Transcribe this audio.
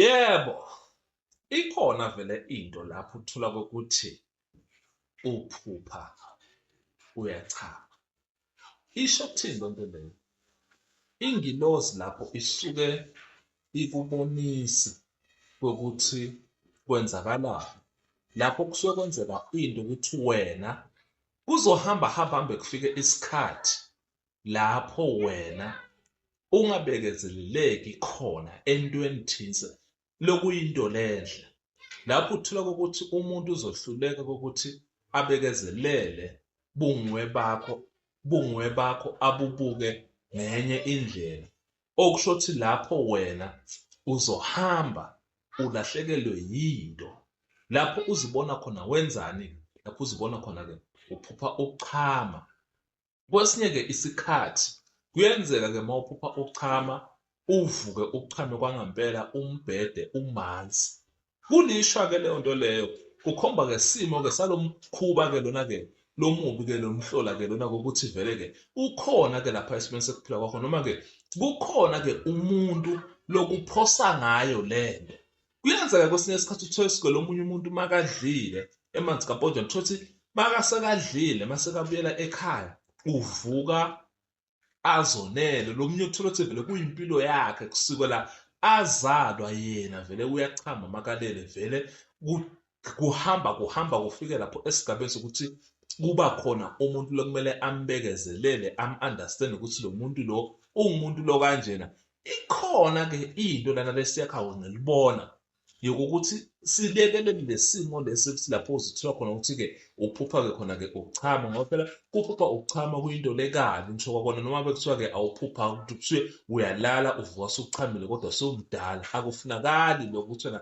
Yebo, ikhona vele into lapho uthola kokuthi uphupha uyachama. Isho ukuthini le nto leyo? Ingilozi lapho isuke ikubonisa kokuthi kwenzakalani. Lapho kusuke kwenzeka into ukuthi wena kuzohamba hamba hambe kufike isikhathi lapho wena ungabekezeleleki khona entweni thize lokuyinto lenhle lapho uthola ukuthi umuntu uzohluleka ukuthi abekezelele bungwe bakho bungwe bakho abubuke ngenye indlela okusho ukuthi lapho wena uzohamba ulahlekelwe yinto lapho uzibona khona wenzani lapho uzibona khona-ke uphupha ukuchama Kwesinye-ke isikhathi kuyenzeka-ke uma uphupha uchama, uvuke uchame kwangampela umbhede umanzi. Kulishwa-ke leyo nto leyo, kukhomba-ke isimo-ke salo mkhuba-ke lona-ke lo mubi-ke lo mhlola-ke lona kokuthi vele-ke ukhona-ke lapha esimeni sekuphila kwakho noma-ke kukhona-ke umuntu lokuphosa ngayo le nto. Kuyenzeka kwesinye isikhathi uthole isigwele omunye umuntu makadlile emanzi kapotshana uthole ukuthi makasekadlile masekabuyela ekhaya uvuka azonele lo munye uthole ukuthi vele kuyimpilo yakhe kusukela azalwa yena vele uyachama makalele vele kuhamba kuhamba kufike lapho esigabeni sokuthi kuba khona umuntu lokumele ambekezelele am-understand ukuthi lo muntu lo uwumuntu lo kanjena ikhona-ke into lana lesiyakhawo ngelibona yokuthi silekelele lesimo lesi ukuthi lapho uzithola khona ukuthi-ke uphupha-ke khona-ke ukuchama ngoba phela kuphupha ukuchama kuyinto lekabi ngisho kwakona noma bekuthiwa-ke awuphupha ukuthi kuthiwe uyalala uvuka sukuchamile kodwa sewumdala akufunakali lokho ukuthi wena